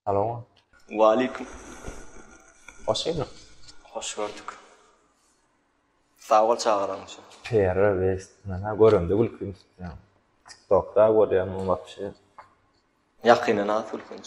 Alo. Waleýkim. Hoş geldiň. Hoş gördük. Sag bol çagyranyň üçin. Pera west. Mena göremde gülküm tutýan. TikTokda görýän bu wapşe. Ýakynda nasy gülkünç.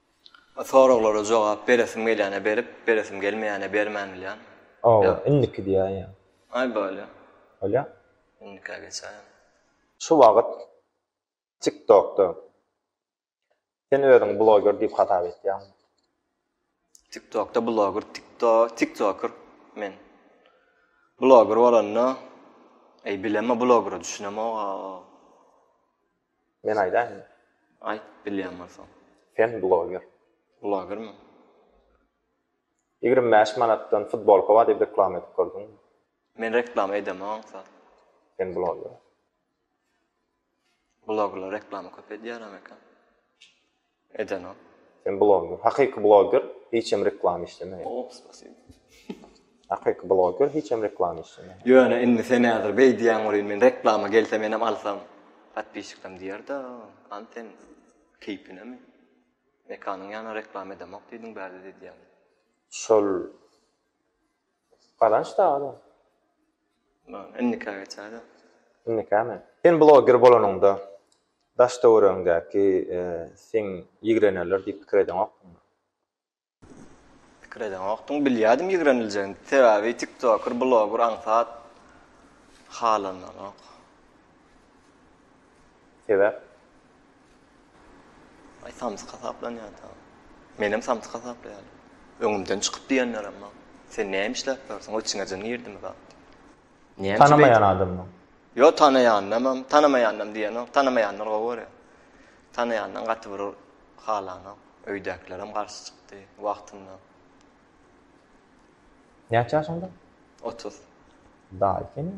Soraglara jogap beresim gelýäne berip, beresim gelmeýäne bermän bilýän. Oba, indiki diýýän ýa. Aý bolýa. Bolýa. Indikä geçäýen. Şu wagyt TikTokda sen özüňi bloger diýip hasap etýäňmi? TikTokda bloger, tikto, tiktoker men. Bloger bolanda, eý bilemma blogera düşünemog-a. Men aýdaýynmy? Aýt, bilýän bolsaň. Sen bloger. Blogermi? Ýigrimi bäş manatdan futbolka bar diýip reklama edip gördüňmi? Men reklama edemok aňsat. Sen bloger. Blogerler reklama köp edýärem eken. Eden o. Sen bloger. Hakyky bloger hiçem reklama işlemeýär. Hop spasibo. Hakyky bloger hiçem reklama işlemeýär. Ýöne indi sen häzir beý diýýäň welin men reklama gelse menem alsam podpisçiklerim diýerda hany sen keýpinemi Mekanyň ýanyna reklama edemok diýdiň bärde diýýäň. Şol. Gazanç da adam. Indika geçäýdä. Indikami? Sen bloger bolanyňda daş-töweregiňdäki seň ýigrenerler diýip pikir edeňokmy? Pikir edeňokdym. Bilýärdim ýigreniljegini. Sebäbi tiktoker, bloger aňsat halandanok. Sebäp? Aý samsyk hasaplanýar da. Menem samsyk hasaplaýaryn. Öňümden çykyp diýenlerem bar. Sen näme işläp ýörsiň, ol içiňejin girdimi zat diýip. Näme üçin beýdýäň? Tanamaýan adamdan. Ýok, tanaýandanam, tanamaýandanam diýenok. Tanamaýanlar gowy görýär. Tanaýandan gaty bir halanok. Öýdäkilerem garşy çykdy wagtynda. Näçe ýaşyňda? Otuz. Daýy seniň.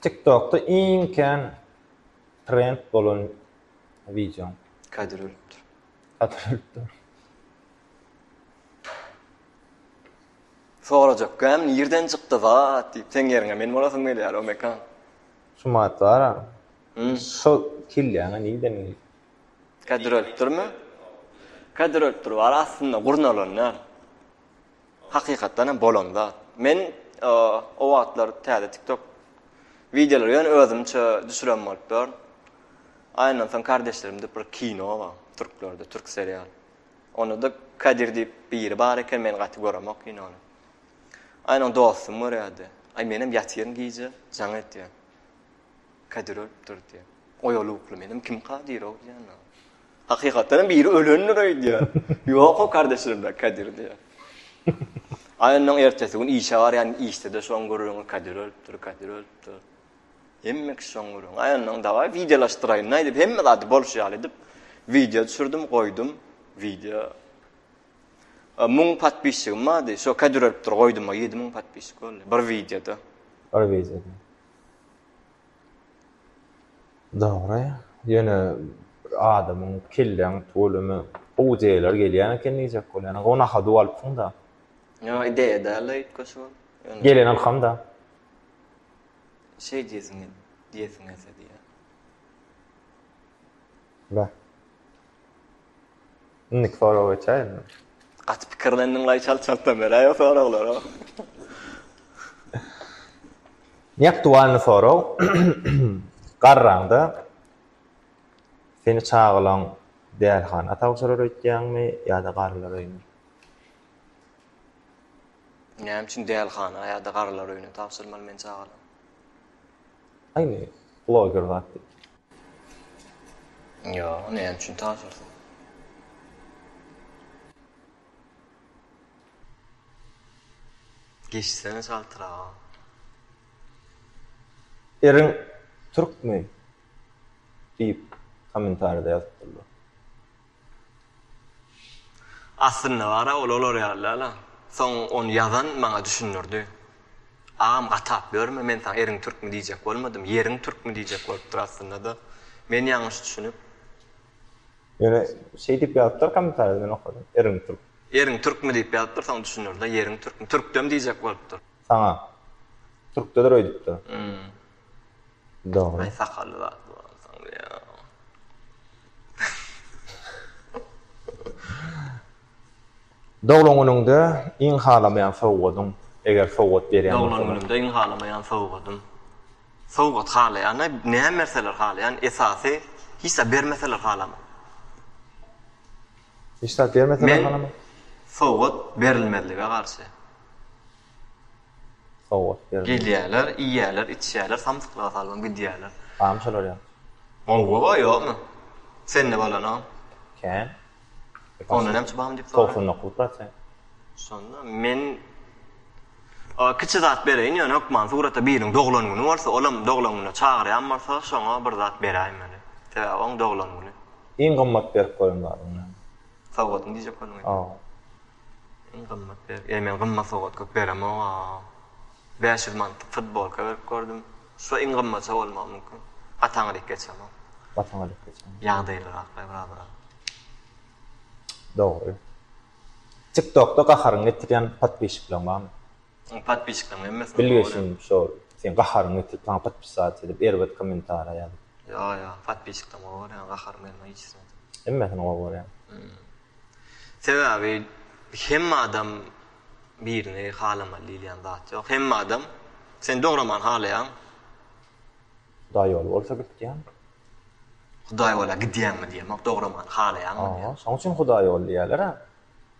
Tiktokda iň kän trend bolan wideoň. Kadir ölüpdir. Kadir ölüpdir. Sorajak gäm nirden çykdy zat diýip seň ýeriňe men bolasym gelýär o mekan. Sumat bara. Hum. Şo kelläňe nirden geldi. Kadir ölüpdirmi? Kadir ölüpdir bar aslynda gurnalan däl. Hakykatdan hem bolan zat. Men o wagtlar täze TikTok wideolary ýöne özümçe düşüren bolup dur. Aýyndan soň kardeşlerim diýip bir kino bar, türklerde, türk serial. Onda da Kadir diýip biri bar eken, men gaty göremok kinony. Aýynyň dostum görýärdi. Aý menem ýatyryn gije, jaň etýär. Kadir ölüpdir diýýär. Oýalukly menem kim Kadirow diýýän. Hakykatdanam biri ölendir öýdýär. Ýok o kardeşlerden Kadir diýýär. Aýynyň ertesi gün işe barýan işde de şoň gürrüňi Kadir ölüpdir, Kadir ölüpdir. Hemme kişi şoň gürrüň. Aýynyň dawaý wideolaşdyraýyn aýdyp hemme zady bolşy ýaly edip wideo düşürdim, goýdum. Wideo Müň patpisçigim bardy. Şo Kadir ölüpdir goýdum, 7000 patpisçik boldy. Bir wideoda. Bir wideoda. Dogry, ýöne bir adamyň kelläň tolumy gowy ideýalar gelýän eken diýjek bolýan. Gowy nahady ualypsyň-da. Ýok, ideýa däl-de üýtgeşik ol. Ýöne. Gelen ylham-da. Şeý diýesiň, diýesiň gelse diýýän. Beh. Indiki soraga geçäýinmi? Gaty pikirlendiňlaý çalt çaltdan beräýiň soraglary. Neaktualny sorag Garraňda seni çagalan dälhana tabşyrar öýtýäňmi ýa-da garrylar öýüne? Näme üçin dälhana ýa-da garrylar öýüne tabşyrmaly men çagalan? Aýni bloger zat diýip. Ýok, näme üçin tabşyrsyn? Geçsene çaltraga. Eriň türkmi? diýip, kommentarýada ýazypdyrlar. Aslynda bar-a ol olar ýaly däl-a. Soň ony ýazan maňa düşündirdi. Agam gatap ýörme, men saňa eriň türkmi diýjek bolmadym, ýeriň türkmi diýjek bolupdyr aslynda-da. Men ýalňyş düşünip. Ýöne şeý diýip ýazypdyr kommentariýada men okadym, eriň türk. Eriň türkmi diýip ýazypdyr, soň düşündirdi-de, ýeriň türkmi, türkdem diýjek bolupdyr. Saňa. Türkdedir öýdüpdir. Dogry. Aý sakally zat bolansoň diýýäň. Doglan günüňde iň halamaýan sowgadyň, eger sowgat berýän bolsaň. Doglan günümde iň halamaýan sowgadym. Sowgat halaýan-a, näme berseler halaýan, esasy hiç zat bermeseler halaman. Hiç zat bermeseler halaman? Men sowgat berilmezlige garşy. Sowgat berdi. Gelýäler, iýýäler, içýäler, samsyklara salybyň gidýäler. Barmy şolar ýa? Gowy ba ýokmy? Sende bolana? Kän. Onda näme üçin barmy diýip soraýan. Togsan dokuz prosent. Şonda men oa kiçi zat bereýin ýöne hökman surata biriň doglan güni bolsa olam doglan güne çagyrýan bolsa şoňa bir zat beräýmeli. Sebäbi oň doglan güni. Iň gymmat berip gören zadyň näme? Sowgatyň diýjek bolduň indi. Hawa. Iň gymmat bergi. Eý men gymmat sowgat köp beremok a. Bäş ýüz manatlyk futbolka berip gördüm. Şo iň gymmaty bolmagy mümkin. Gaty aňryk geçemok. Gaty aňryk geçemok. Ýagdaýlyraklaý biraz biraz. Dogry. Tiktokda gaharyňy getirýän podpişikleň barmy? Oň podpiskalaryň hemmesini gowy görýän. Bilgeşim şol seň gaharyňy getirip saňa podpisat edip erbet komentariýa ýazyp. Ýo ýo podpiskalaryň gowy görýän gaharymy gelmän hiç hili edip. Hemmesini gowy görýän. Sebäbi hemme adam birini halamaly diýilýän zat ýok. Hemme adam seni dogramany halaýan. Hudaý ýoly bolsa gitýän. Hudaý bola gidýäňmi diýemok dogramany halaýaňmy diýýän. Şoň üçin hudaý ýoly diýýäler-ä.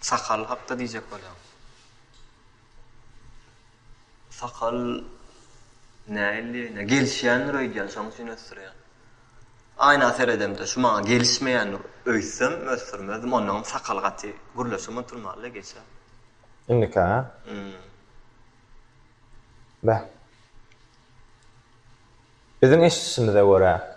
Sakal hakda diýjek bolýan. Sakal näilligiine gelişýändir öýdýän şoň üçin ösdürýän. Aýna seredemde şu maňa gelişmeýän öýtsem ösdürmezdim onnoňam sakal gaty gürleşem oturmalyda geçe. Indikä? Hum. Beh. Biziň eşidişimize görä.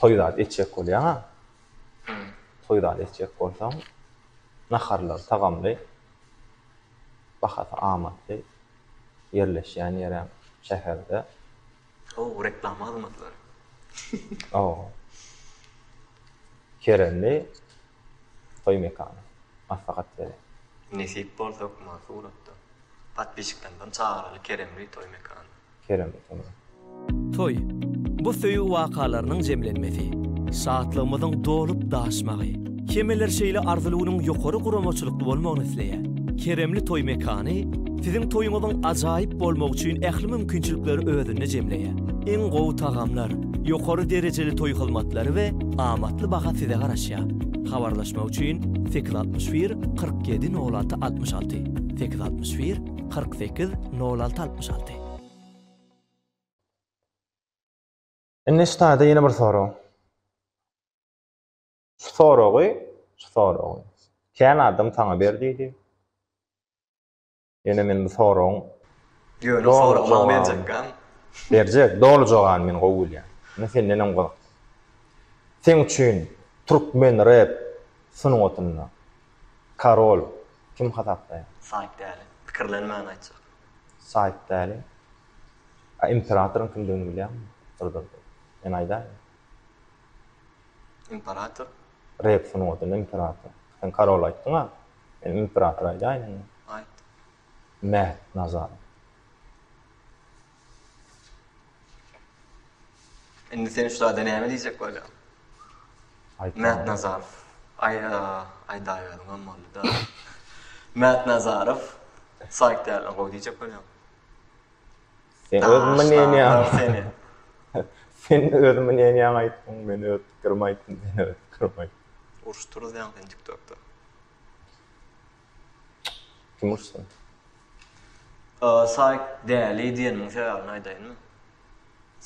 Toý zat etjek bolýaňa, toý zat etjek bolsaň, naharlary tagamly, bahasy amatly, ýerleşýän ýeräm şäherde. How, reklama hyzmatlary. How. Keremli, Toý mekany. Maslahat bere. Nesip bolsa hökman suratda. Podpisçiklerden çagyraly keremli toý mekany. Keremli toý mekany. Toý, bu söýgi wakalarynyň jemlenmesi, şatlygymyzyň dolup daşmagy. Hemeler şeýle arzylygynyň ýokary guramaçylykly bolmagyny isleýär. Keremli toý mekany siziň toýuňyzyň ajaýyp bolmagy üçin ähli mümkinçilikleri özünde jemleýär. Iň gowy tagamlar, Ýokary derejeli toý hyzmatlary we amatly baha size garaşýar. Habarlaşmak üçin sekiz altmyş bir kyrk ýedi nol alty altmyş alty, sekiz altmyş bir kyrk sekiz nol alty altmyş alty. Indi şu taýda ýene bir sorag. Şu soragy, şu soragy. Kän adam saňa ber diýdi. Ýöne men bu soragyň Ýöne o soragy maňa berjekgän. Berjek, doly jogabyny men gowy bilýän. Ine senden hem gyzykly. Seň üçin türkmen rep sungatynda Karol kim hasaplaýaň? Saýt Däli. Pikirlenmän aýtjak. Saýt Däli. A imperatoryň kimdigini bilýäňmi? Durdurdy. Men aýdaýyn. Imperator. Rep sungatynda imperator. Sen Karol aýtdyň-a. Men imperator aýdaýyn onda. Aýt. Mät Nazar. Indi sen şu zada näme diýjek bolýaň? Aýt. Mät Nazar. Aý, aýdaýbermem boldy-da. Mät Nazarow, Saýk dälden gowy diýjek bolýaň. Sen öz mneniýaňy seni. Sen öz mneniýaňy aýtdyň, men öz pikirimi aýtdym, sen öz pikirimi aýt. Urşup turuz ýaňy sen tiktokda. Kim urşsun? Saýk däli diýenimiň sebäbini aýdaýynmy?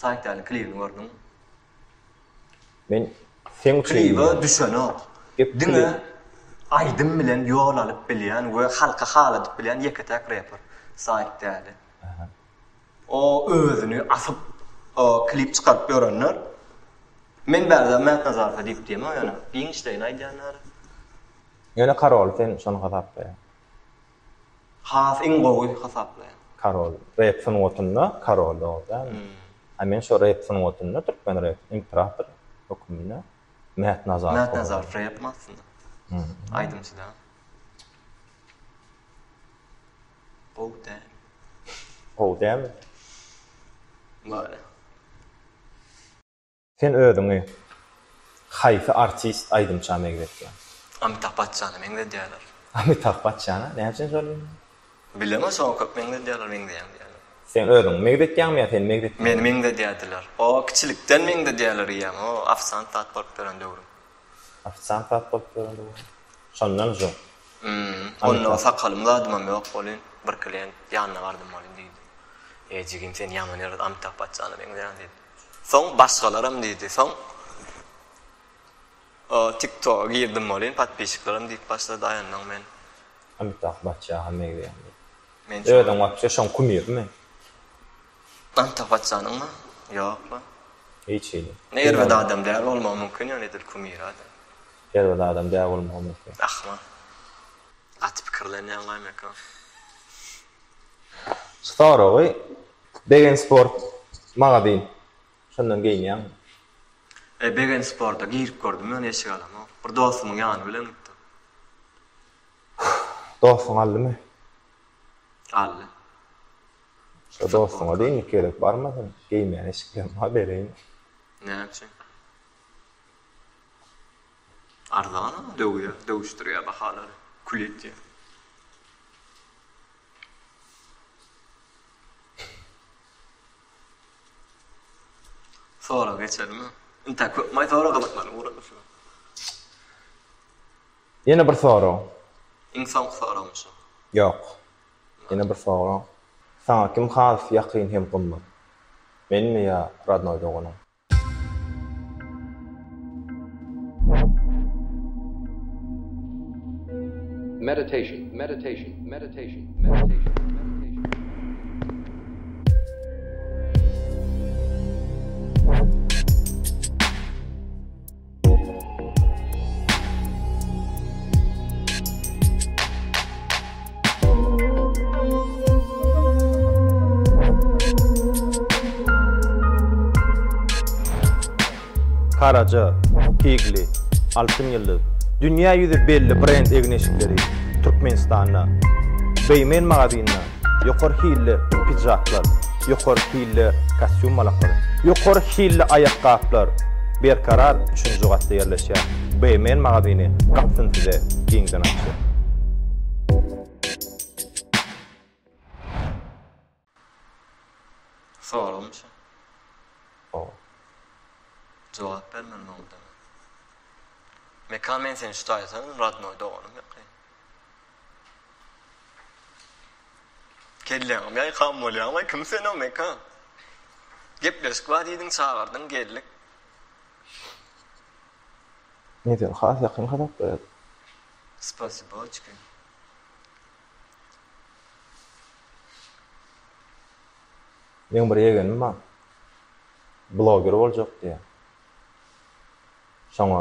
Saýk däli klibini gördüňmi? Men seň üçin klibe düşenok. Diňe aýdym bilen ýol alyp bilýän we halka haladyp bilýän ýeke-täk reper Saýk däli. O özüni asyp klip çykaryp ýörenler Men bärde Mätnazarka diýip diýemok ýöne giň işleýin aýdýanlar. Ýöne karoly sen şony hasaplaýaň. Has iň gowy hasaplaýan. Karol rep sungatynda karol dogry dälmi? A men şo rep sungatynda türkmen rep imperator höküminde Mätnazar. Mätnazar rep aslynda. Aýdymçy däl. Gowy däl. Gowy dälmi? Bary. Sen özüňi haýsy artist aýdymça megzetýäň? Amitah Bachchana meňzedýärler. Amitah Bachchana? Näme üçin şol indi? Bilemok şoňa köp meňzedýärler meňzeýäň diýýärler. Sen özüňi megzetýäňmi ýa seni megzetýärmi? Meni meňzedýärdiler. O kiçilikden meňzedýärler diýýäň o ofisant zat bolup ýören döwrüm. Ofisiant zat bolup göründi bu. Şondan jo. Hmm. Onda sakalym zadymam ýok welin bir klient ýanyna bardym welin diýdi. Eý jigim sen ýaman ýerde Amitap Baçjana meňzeýäň diýdi. Soň başgalaram diýdi. Soň o tiktoga girdim welin podpisçiklerim diýip başlady aýandan men. Amitap Baçjana meňzeýäň diýip. Özüň wapşe şoň kumyrmy? Gan tapatjanyňmy? Ýokmy? Hiç hili. Ne erbet adam däl bolmagy mümkin ýöne edil kumira-da. Erbet adam däl bolmagy mümkin. Ahmal. Gaty pikirlenýäň gaýmakam. Soragy, Begen sport magazin şondan geýinýäňmi? E Begen sporta girip gördüm ýöne eşik alamok. Bir dostumyň ýany bilen gitdim. Dostuň aldymy? Aldy. Şo dostuňa deý indi gerek barmasyn, geýmän eşiklerim-ha bereýin. Näme üçin? Arzana döwýär, döwüşdirýär bahalary. Kül edýär. Sorag geçermi? Intä köp maý sorag gyzyklanýan ugurlar şu. Ýene bir sorag. Iň soňky soragmy şu? Ýok. Ýene bir soraň. Saňa kim has ýakyn hem gymmat? Menmi ýa rodnoý doganym? Meditation Meditation Meditation Meditation Karaca, Tigli, Altyn Ýyldyz, dünýä ýüzi belli brend egin-eşikleri Türkmenistanda, Beýmen magazininde Ýokary hilli pidžaklar, ýokary hilli kostýum malaklary, ýokary hilli aýakgaplar Berkarar üçünji gatda ýerleşýän BMN magazyny gapysyny size giňden açýar. Soragym şu. Hawa. Jogap ber men muňa. Mekan men seni şu taýdan rodnoý doganym ýokary. Kelläňem ýaýkan bolýaňlaý, kim sen o Mekan? Gepleşik bar diýdiň, çagyrdyň, geldik. Medeni has ýakyn hasaplar ýaly. Spasiboçki. Meň bir ýegenim bar. Bloger boljak diýýär. Şoňa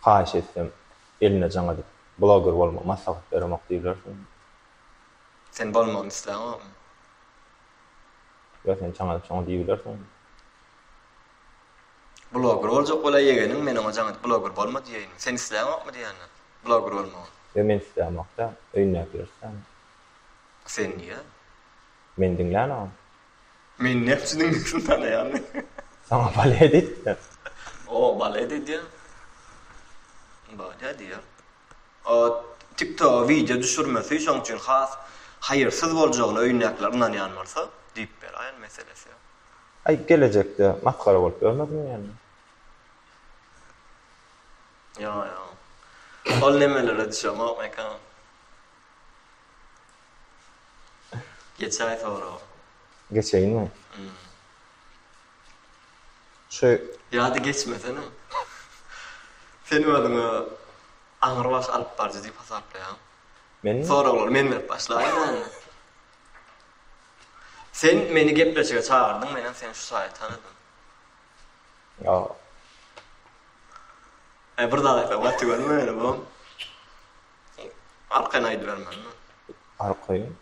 haýyş etsem, Eline jaň edip bloger bolma maslahat beremok diýilersiň. Sen bolmagyny isläňokmy? Ýa sen jaň edip şoňa diýibilersiň. Bloger boljak bolaý ýegeniň men oňa jaň edip bloger bolma diýeýin. Sen isläňokmy diýende bloger bolmagy. Ýa men islämok däl, öýündäkiler islämok. Sen diýýä. Men diňlänogam. Men nepçi diňlesini tanaýarmy? Saňa balet edipdir. O, balet edýär. Balet edýär. O, TikToga wideo düşürmesi şoň üçin has haýyrsyz boljagyna öýündäkiler ynanýan bolsa, diýip beraýan meselesi ýok. Aý, gelejekde masgara bolup ýörmezmi ýöne? Ýok, ýok. Ol nemelere düşemok mekan. Geçäý soraga. Geçeýinmi? Hum. Şu Ýa-da geçmesene. Sen özüňi aňrybaş alypbaryjy diýip hasaplaýaňmy? Menmi? Soraglary men berip başlaýyn ýaly. Sen meni gepleşige çagyrdyň, menem seni şu saýa tanadym. Ýok. Aý, bir zat aýtsaň, gaty tüweleme meni, bom. Sen arkaýyn aýdybermeli. Arkaýyn?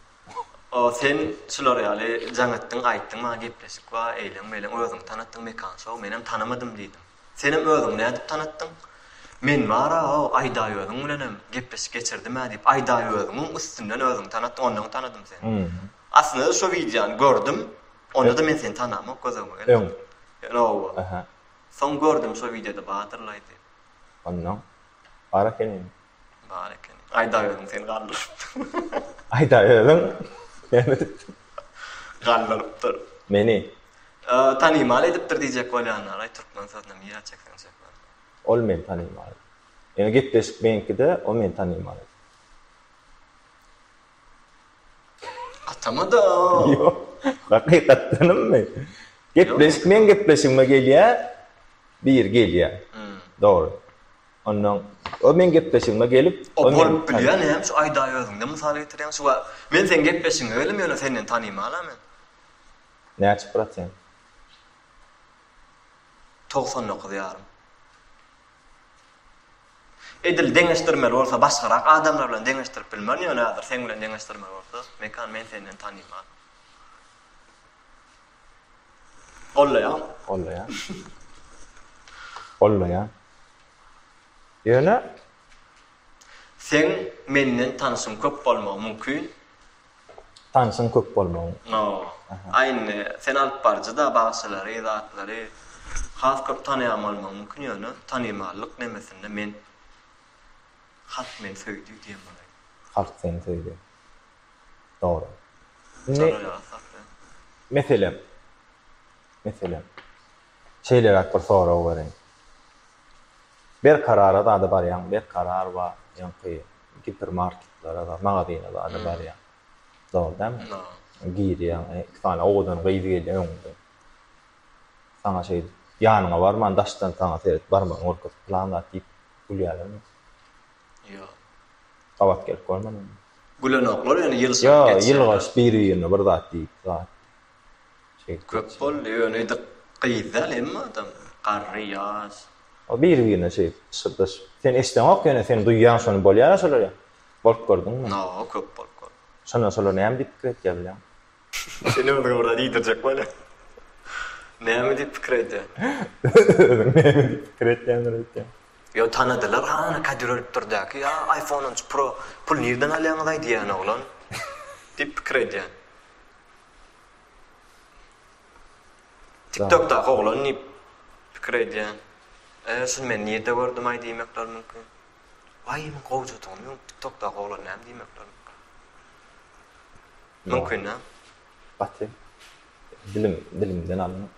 O sen şular ýaly jaň etdiň, aýtdyň, maňa gepleşik bar, eýleň, meýleň, özüňi tanatdyň, mekan şou, menem tanamadym diýdiň. Senem özüňi nädip tanatdyň? Men bar-a-ow, Aýdaý özüň bilenem gepleşik geçirdim-ä diýip, Aýdaý özüňiň üstünden özüňi tanatdyň, ondan tanadym seni. Aslynda-da şo wideony gördüm, onda-da men seni tanamok, gözegime gelmedin. Öň? Öň, oba. Soň gördüm, şo wideoda bardyr-laý diýip. Ondan? Bar ekeni. Bar ekeni. Aýdaweriň seni galdyrypdyr. Aýdaweriň seni edipdir. Galdyrypdyr. Meni. Tanymal edipdir diýjek bolýanlaray türkmen sözüne nirä çekseň çek welin. Ol meni tanymal edipdir. Ýöne gepleşik meňkide o meni tanymal edipdir. Atamada. Ýok. Hakykatdanmy? Gepleşik meň gepleşigime gelýä. Bir gelýä. Dogry. Ondan o meň gepleşigime gelip. O bolup bilýä näme şu aýda özüňden mysal getirýäň şu wagt. Men seň gepleşigiňe geldim ýöne senden tanymala men. Näçe prosent? Togsan dokuz ýarym. Edil deňeşdirmeli bolsa başgarak adamlar bilen deňeşdirip bilmerin ýöne hazir seň bilen deňeşdirmeli bolsa Mekan men senden tanyman. Gollaýan. Gollaýan. Gollaýan. Ýöne. Seň menden tanyşyň köp bolmagy mümkin. Tanyşyň köp bolmagyň. Noo. Aý indi sen alyp baryjyda bagşylary, zatlary has köp tanaýan bolmagyň mümkin ýöne tanymallyk nemesinde men Halk meni söýdi diýen bolaýyň. Halk seni söýdi. Dogry. Indi. Meselem. Meselem. Şeýleräk bir sorag bereýin. Berkarara zada barýaň, Berkarar bar, ýoňky gipermarketlere zada, magazine zada barýaň. Dogry dälmi? Girýäň, iki sany owadan gyz gelýär öňüňde. Saňa şeýdip, ýanyňa barman, daşdan saňa seredip, barmagyny görkezip, pylan zat diýip gülýärlermi? Ýok. Gabat gelip görmediňmi? Gülenoklar ýöne ýylşyryp geçýärler. Ýok, ýylgyryşyp biri-birine bir zat diýip zat. Köp boldy ýöne edik gyz däl emmi adam garry ýaş. O biri birine şeýdip pyşyrdaşyp. Sen eşdeňok ýöne sen duýýaň şony bolýara şolar ýa bolup gördüňmi. Noo köp bolup gör. Şonda şolar näme diýip pikir etýä bileň. Sen özüňi biraz iýdirjek bolýa. Näme diýip pikir edýä. Özüň näme diýip pikir etýäňdir öýtýän. Ýo tanadylar hany kadir ölüp dur däki ýa iphone on üç pro pul nirden alýaňyzaý diýýän oglan diýip pikir edýän. Tiktokdaky oglan diýip pikir edýän. E, şuny men nirde gördümaý diýmekler mümkin. Waý, muň gowjadygymy öň tiktokdaky oglan näme diýmekler mümkin. Mümkin-ä. Gaty dilim dilimden alnyp.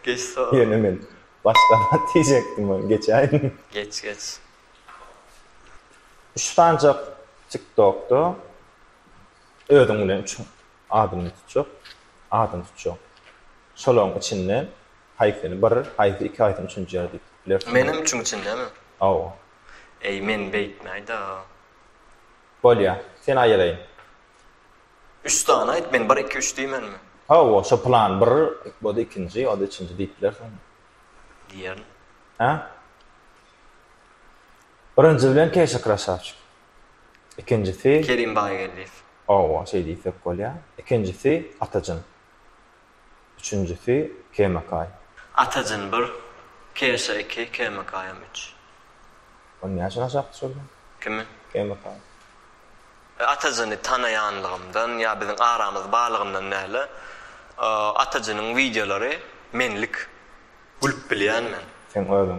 Geç sor. Ýöne men başga zat diýjekdim, ony geçäýin. Geç, geç. Şu sanjak tiktokda Özüň bilen üç adamyny tutjak, adam tutjak. Şolaryň içinde haýsyny bir, haýsy iki, haýsyny üçünji ýer diýip bilersiň. Menem üçüň içindemi? Hawa. Eý, men beýtmäý-da. Bolýar. Sen aýylaýyn. Üç sany aýt, men bir, iki, üç diýmenmi? Hawa, şo plan bir, bu-da ikinji, o-da üçünji diýip bilersiň. Diýerin. Hä? Birinji bilen keşik krasawçik. Ikinjisi. Kerim Baýgeldiýew. Hawa, şeý diýsek bolýar. Ikinjisi, Atajyn. Üçünjisi, Kemakaý. Atajyn bir, Keşa iki, Kemakaýam üç. Ony näçe aşak düşürdiň? Kimi? Kemakaýy. Atajyny tanaýanlygymdan ýa biziň aramyz barlygyndan däl-de, Atajynyň wideolary menlik. Gülüp bilýän men. Seň özüň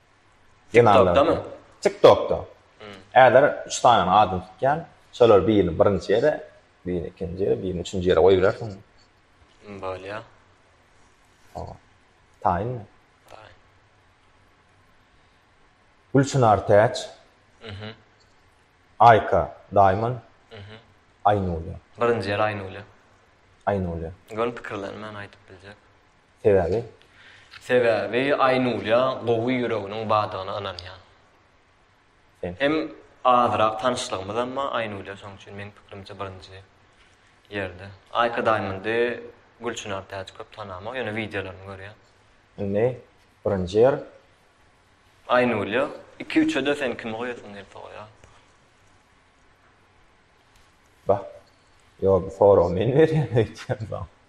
TikTokdamy? TikTokda. Äler üç sanyň adyny tutýan, şolar birini birinji ýere, birini ikinji ýere, birini üçünji ýere goýup bilersiň. Bolýar. Hawa. Taýynmy? Taýyn. Gülçynar Täç. Mhm. Aýka Diamond. Mhm. Aýnulýa. Birinji ýer Aýnulýa. Aýnulýa. Göni pikirlerimi men aýdyp biljek. Sebäbi? Sebäbi Aýnulýa gowy ýüreginiň bardygyna ynanýan. Sen? Hem azrak tanyşlygymyzam bar Aýnulýa şoň üçin meň pikirimçe birinji ýerde. Aýka Daýmondy Gülçynar Täç köp tanamok ýöne wideolaryny görýän. Indi birinji ýer. Aýnulýa iki üçede sen kimi goýasyň gelse goýa. Bah. Ýok bu soragy men berýän öýtýän saňa.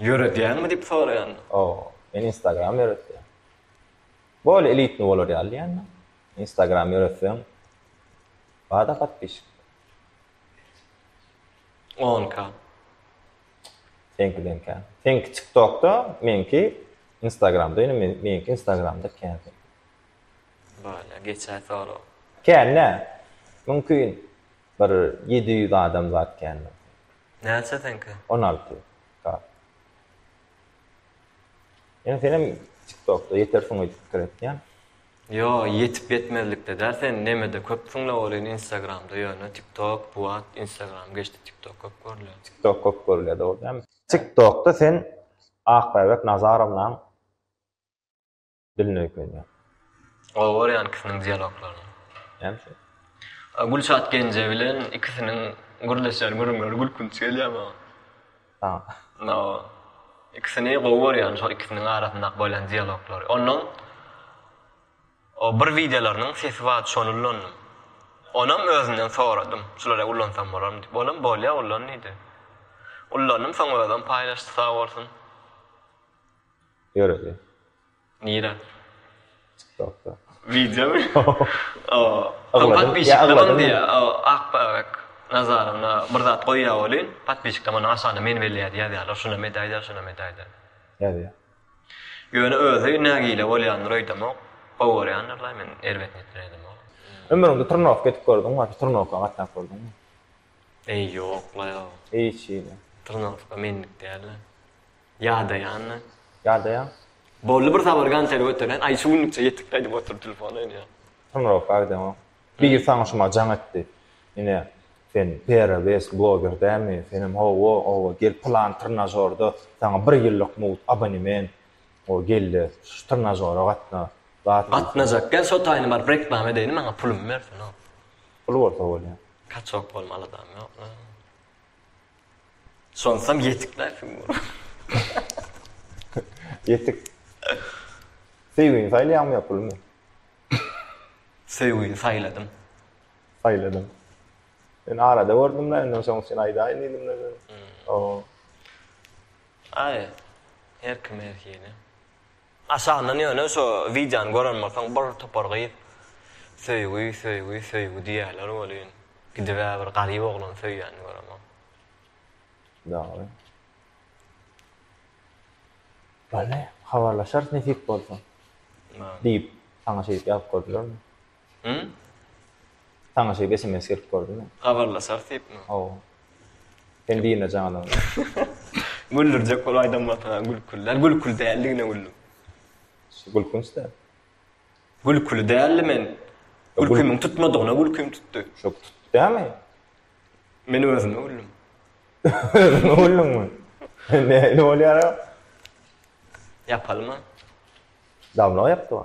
Ýöredýäňmi diýip soraýanda. Hawa, men instagram ýöretýän. Bolýa elitni bolar ýaly diýýändim. Instagram ýöretseň bada podpişik. On ka. Seňkiden kän. Seňki tiktokda, meňki instagramda, ýöne meňki instagramda kän. Bolýa, geçäý sorag. Kän dä. Mümkin bir ýedi ýüz adam zat kän. Näçe seňki? On alty K. Ýöne senem tiktokda ýetersiň öýdüp pikir etýän. Ýo ýetip ýetmezlikde däl sen nemede köpsüňle welin instagramda ýöne tiktok buat instagram geçdi tiktok köp görülýä. Tiktok köp görülýä dogry dämi. Tiktokda sen Akbäbek Nazarownam Dilini öýkenýär. Gowy görýän ikisiniň dialoglaryny. Hem şo. Gülşat Genje bilen ikisiniň gürleşýän gürrüňleri gülkünç gelýär maňa. Saňa. No. Ikisini gowy görýän şo ikisiniň arasyndaky bolýan dialoglary. Ondan o bir wideolarynyň sesi bar şony ullandym. Onam özünden soradym. Şulary ullansam bolarmy diýip. Olam bolýa ullan diýdi. Ullandym soň özem paýlaşdy sag bolsun. Ýöredi. Nirä? Tiktokda. Wideomy? Ygladym. Ýa ygladym diýýä. Akbabek Nazarowna bir zat goýýa welin, podpisçikler muny aşagynda meni belleýärdi ýazýarlar, şunam edäýdä, şunam edäýdä. Ýazýa. Ýöne özi nägile bolýandyr öýdemok. Gowy görýändirler, men erbet niýetden öýdemok. Ömrüňde trnowka edip gördüňmi ýa-da trnowka gatnap gördüňmi? Eý ýok la ýok. Hiç hili. Trnowka menlik däl-le. Ýadaýanna. Ýadaýaň. Boldy bir sabar gançeri göteren aý şu günlükçe ýetik aýdyp otur telefona ine. Tymrowka gideňok. Biri saňa şuma jaň etdi. Ine sen Pera West bloger dälmi? Senem hawa oba gel pylan trnažorda saňa bir ýyllyk mugt abonement o gelde şu trnažora gatna. Zat diýseň. Gatnajak gel şo taýyny baryp reklama edeýin maňa pulumy bersin o. Pul bolsa bolýa. Kaçok bolma aladam ýok. Şonsam ýetik nähili bolar? Ýetik. Söýgini saýlaýaňmy ýa pulumy? Söýgini saýladym. Saýladym. Men arada gördüm-le, ondan soň sen aýdaýyn diýdim-le. Hmm. O. Aý, her kime her hili. Aşagyndan ýöne şo wideony gören bolsaň bir topar gyz söýgi söýgi söýgi diýýäler welin gidibä bir garyp oglany söýýänini göremok. Dogry. Bolly, habarlaşarys nesip bolsa. Diýip, saňa şeýdip ýazyp gördilermi? Hum. Saňa şeýdip sms gelip gördi mi? Habarlaşarys diýipmi? Hawa. Sen diýme janyň. Güldürjek bolup aýdan bolsaň gülküli. Gülküli däldigine güldüm. Şu gülkünçde. Gülküli däldi men. Gülkümiň tutmadygyna gülküm tutdy. Şo tutdy dämi? Men özüme güldüm. Özüňe güldüňmi? Nähili bolýar o? Ýapalyma. Damlag ýapdyba.